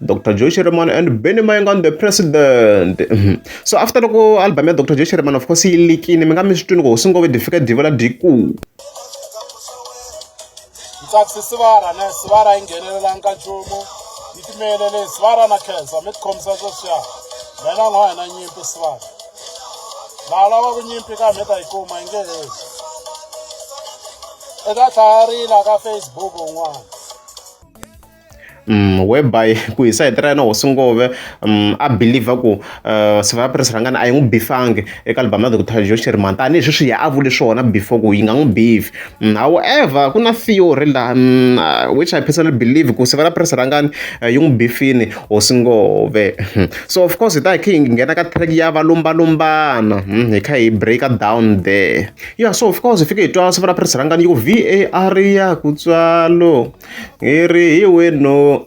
dr joe sherman and benny mayengani the president mhm. so after loko album ya dr joe sherman of course yi likini mi nga mi swi twini ku swi ngo ve difika diva la diku ntsatsi sivara ne sivara yi nghenelelanga nchumu yi timelele sivara na khensa mi tikhomisa sweswiya mina n'wa hina nyimpi sivara laha lavaku nyimpi ka mi ta yi kuma yi nge hezi eka tlhayarila ka facebook un'wana Mm, whereby ku hi sayiti ra yena hosi ngove um a believer ku uh, eh, sivaya press rangani a yi n'wi bifangi eka album ya doctor jo xirima tanihi sweswi ya a vule swona before ku yi nga n'wi bifi mm, however ku na theory laha mm, uh, which i personally believe ku sivela press rangani uh, yi n'wi bifini hosi ngove hmm. so of course hi ta hi khe hi nghena ka track ya valumbalumbana hmm, hi kha hi breaker down there yeah so of course hi fike hi twa sivela press rangani yi ku v a r ya kutswalo hi ri hi wenu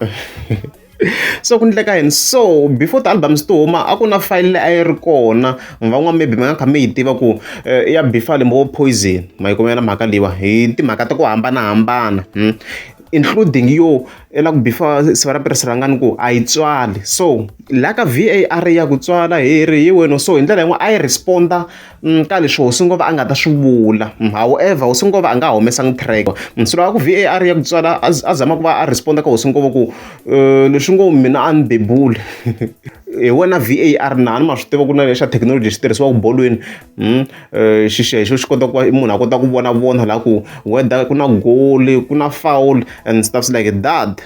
so ku endleka yini so before ti-albums ti huma a ku na file leyi a yi ri kona van'wana maybe mi nga kha mi yi tiva ku eh, ya bifile mbo poison ma yi kumela mhaka leyiwa hi timhaka ta ku hambanahambana hmm? including yo la ku bifa siva ra pirhiselangani ku a yi tswali so la ka var ya ku tswala hi ri hi wena so hi ndlela yin'wana a yi responda Mm, ka leswi hosi ngova a nga ta swi vula mm, however hosi ngova a nga ha humesangi track mm, silo a ku var ya ku tswala a zama ku va a responda ka hosi ngova ku eh, leswi ngo mina a ni bebule hi wena var na ni ma swi tiva ku na lexa thekinoloji xi tirhisiwaka bolweni eh, xixexo xi kota ku va munhu a kota ku vona vona laha ku whether ku na goli ku na foul and stuffs like that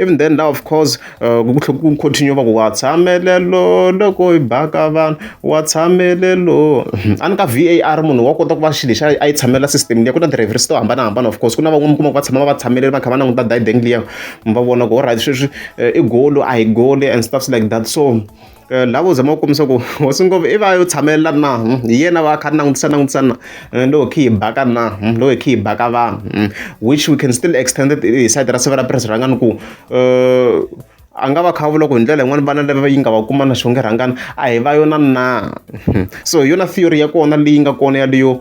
even then law of course ku tlhela ku continue va ku wa tshamelelo loko hi baka vanhu wa tshamelelo a ni ka var munhu wa kota ku va xilo lexi a yi tshamela system liya ku na ti-reference to hambanahambana of course ku na van'wani mi kuma ku va tshama va tshamelele va kha va languta dibeng liya va vona ku alright sweswi i golo a hi goli and stuffs like that so. la vo zama ku kombisa ku hosi ngopfu i va yo tshamelela na hi yena va kha langutisa langutisa na loko hi khe hi baka na loko hi khe hi baka vanhu which we can still extend it hi side ra siva ra purasi rhangani ku a nga va kha vula ku hi ndlela yin'wana vana lava yi nga va kuma na xonge rhangani a hi va yona na so hi yona theory ya kona leyi nga kona yaleyo .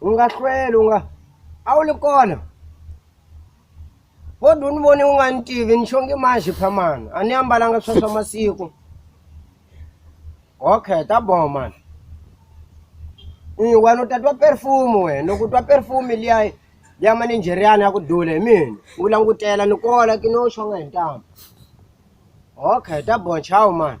u nga hlweli u nga a wu ri kona wo dwu ni voni u nga ni tivi ni xonge manjhe phamani a ni ambalanga swa swa masiku okay ta boho mani wena u ta twa perfume wena loko u twa perfume liya liya maninjeriyana ya ku dula hi mina u langutela ni kola ki no xonga hi ntambu okay ta boho chawu mani